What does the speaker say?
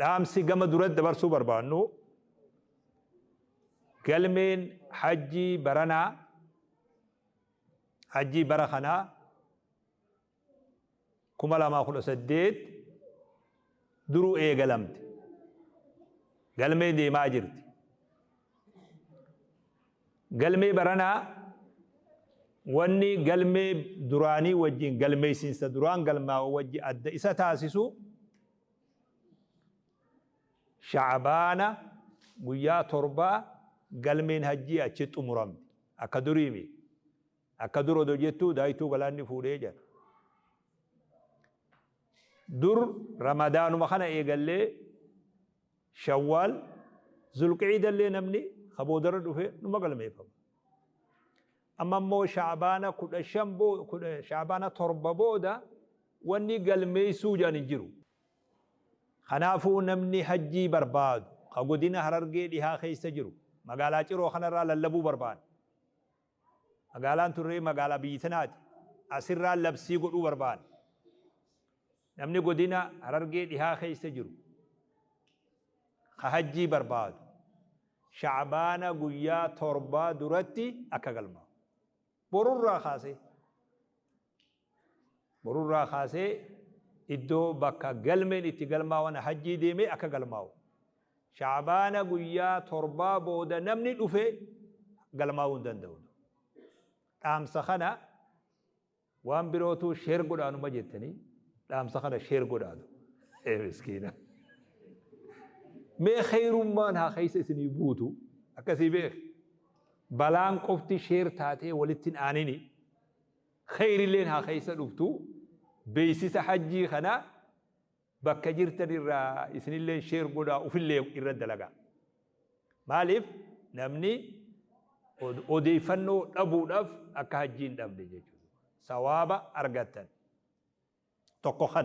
Dhaamsi gama duratti dabarsuu barbaannu, galmeen hajjii baranaa, hajjii bara kanaa 2018 duruu eegalamte. Galmee deemaa jirti. Galmee baranaa wanni galmee duraanii wajjin galmeessiinsa duraan galmaa'u wajji adda isa taasisu shaabaana guyyaa torbaa galmeen hajjii achi xumuramti akka duriimi akka dur odo jettuu daaytuu galaanni fuudhee jedha dur ramadaanuma kana eegallee Shawwaal, Zulqiidallee namni ka boodarra dhufe numa galmeeffama. Amma immoo Sha'abaana 15 boo, kudha- Sha'abaana 7 booda wanni galmeessuu jedhan hin jiru. Kanaafuu namni hajjii barbaadu ka godina Harargee dhihaa keessa jiru magaalaa Ciroo kanarraa lallabuu barbaanna. Magaalaan Turree magaalaa biyyi tanaati. Asirraa labsii godhuu barbaanna. Namni godina Harargee dhihaa keessa jiru ka hajjii barbaadu Sha'abaana guyyaa torbaa duratti akka galmaa'u. Borurraa kaasee. Borurraa kaasee iddoo, bakka, galmeen itti galmaawan hajjii deemee akka galmaawu. Sha'abaana guyyaa torbaa booda namni dhufe galmaawuu hin danda'u. Dhaamsa kana waan birootu share godhaa numa jettanii dhaamsa kana share godhaatu. Ee miskiina. Mee kheeyrummaan haa keessa isinii buutu akkasii beek. Balaan qofti share taatee walittin aanini. Keyrileen haa keessa dhuftu beysisa hajjii kana bakka jirtan irraa isinilleen share godhaa ufillee irra dalagaa maaliif namni odeeyfannoo dhabuudhaf akka hajjii hin dhabne jechuudha sawaaba argattan tokko kana.